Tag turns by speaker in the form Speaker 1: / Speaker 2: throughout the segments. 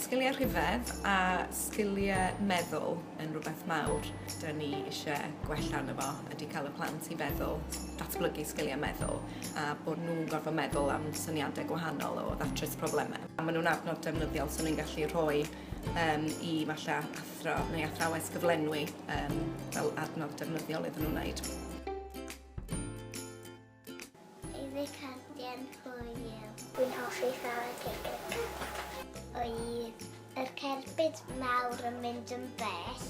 Speaker 1: Sgiliau rhifedd a sgiliau meddwl yn rhywbeth mawr dyn ni eisiau gwella yno fo, ydy cael y plant i feddwl, datblygu sgiliau meddwl a bod nhw'n gorfod meddwl am syniadau gwahanol o ddatrys problemau. Maen nhw'n adnodd defnyddiol so ni'n gallu rhoi um, i falle athro neu athrawes gyflenwi um, fel adnodd defnyddiol iddyn nhw wneud.
Speaker 2: Ydi cardiau'n hwyl? Dwi'n hoffi chwarae cricket. Oedd yr cerbyd mawr yn mynd yn bell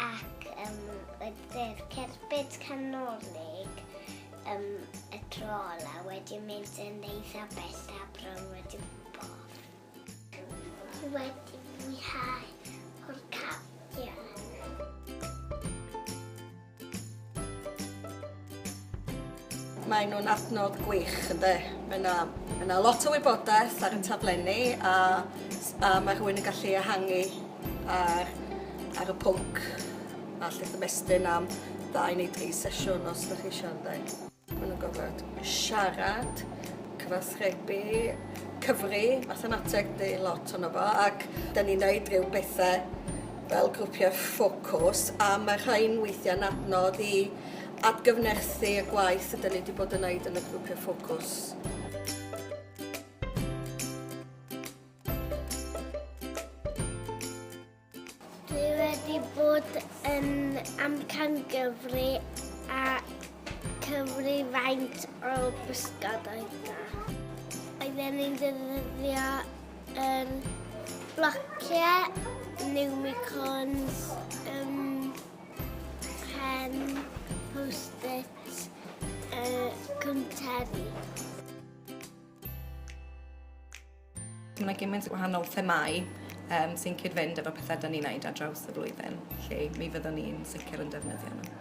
Speaker 2: ac um, oedd yr cerbyd canolig um, y trol a wedi mynd yn eitha bell a bron wedi gwybod. Dwi wedi mwynhau o'r cardiau.
Speaker 3: Maen nhw'n adnodd gwych ynde. Mae 'na mae 'na lot o wybodaeth ar y taflenni a s- a ma' rhywun yn gallu ehangu ar ar y pwnc a 'llu ymestyn am ddau neu dri sesiwn os 'dach chi isio ynde. Maen nhw'n gorfod siarad, cyfathrebu, cyfri, mathemateg di lot ono fo, ac da ni'n neud rhyw bethau fel grwpiau ffocws, a mae rhain weithiau'n adnodd i adgyfnerthu y gwaith ydyn ni wedi bod yn neud yn y grwpiau ffocws.
Speaker 2: Dwi wedi bod yn amcangyfri a cyfri faint o bysgod oedd da. Oedden ni'n defnyddio um, blociau, unicorns, um, pen, post-its, uh, cwnteri.
Speaker 1: Mae yna gymaint o wahanol themau um, sy'n cyd-fynd efo pethau da ni'n wneud ar draws y flwyddyn, lle mi fyddwn ni'n sicr yn defnyddio nhw.